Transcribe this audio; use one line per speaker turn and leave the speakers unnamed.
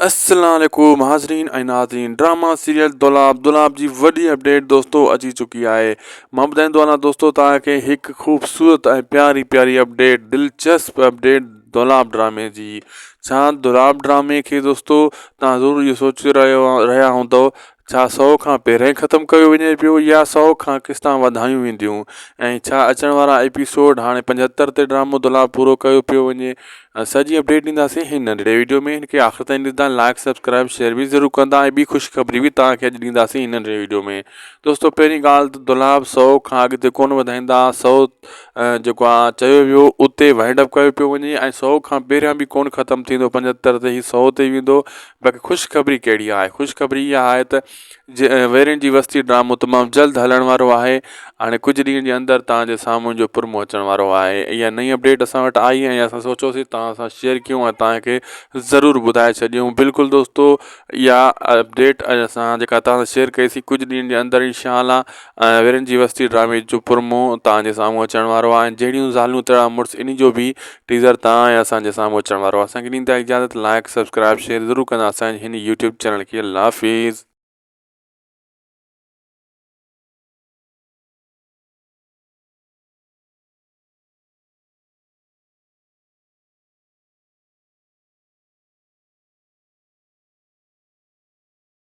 السلام عليڪم حاضرين ۽ ناظرين ڊراما سيريل دولاب دولاب جي وڏي اپڊيٽ دوستو اچي چڪي آهي مان ٻڌائيندو هلان دوستو توهان کي هڪ خوبصورت ۽ پياري پياري اپڊيٽ دلچسپ اپڊيٽ دولاب ڊرامي جي ڇا دولاب ڊرامي کي دوستو توهان ضرور اهو سوچي رهيو رهيا هوندو ڇا سؤ کان پهرئين ختم ڪيو وڃي پيو يا سؤ کان قسطان وڌايون وينديون ۽ ڇا اچڻ وارا ايپيسوڊ هاڻي پنجهتر تي ڊرامو دولاب پورو ڪيو پيو وڃي سڄي اپڊيٽ ڏينداسين هن ننڍڙي وڊيو ۾ هن کي آخر تائين ڏسندا لائيڪ سبسڪرائب شيئر به ضرور ڪندا ۽ ٻي خوشخبري به توهان کي اڄ ڏينداسين هن ننڍڙي وڊيو ۾ دوستو پهرين ڳالهه ته دولاب سؤ کان اڳتي ڪونه وڌائيندا سؤ جيڪو آهي چيو ويو اتي وائنڊ اپ ڪيو پيو وڃي ۽ سؤ کان پهريان به ڪونه ختم ٿيندو پنجهتر تي هي سؤ تي ويندو باقي خوش خبري ڪهڙي آهي خوش خبري اها آهي ته جي ويرين جي وستي ڊرامو تمام جلد هلڻ وارو آهي هاڻي ڪجهه ڏينهن جي اندر تان جي سامهون جو پرمو اچڻ وارو آهي اها نئين اپڊيٽ اسان وٽ آئي ۽ اسان سوچيوسي تان سان شيئر ڪيون ۽ تان کي ضرور ٻڌائي ڇڏيون بلڪل دوستو اها اپڊيٽ اسان جيڪا تان سان شيئر ڪئي سي ڪجهه ڏينهن جي اندر انشاء الله ۽ ويرين جي وستي ڊرامي جو پرمو توهان جي سامهون اچڻ وارو آهي ۽ جهڙيون زالون تهڙا مڙس ان جو به ٽيزر توهان ۽ اسان جي سامهون اچڻ وارو آهي اسانکي ڏيندا اجازت لائيڪ سبسڪرائيب شيئر ضرور ڪندا اسانجي هن يوٽيوب چينل کي الله حافظ.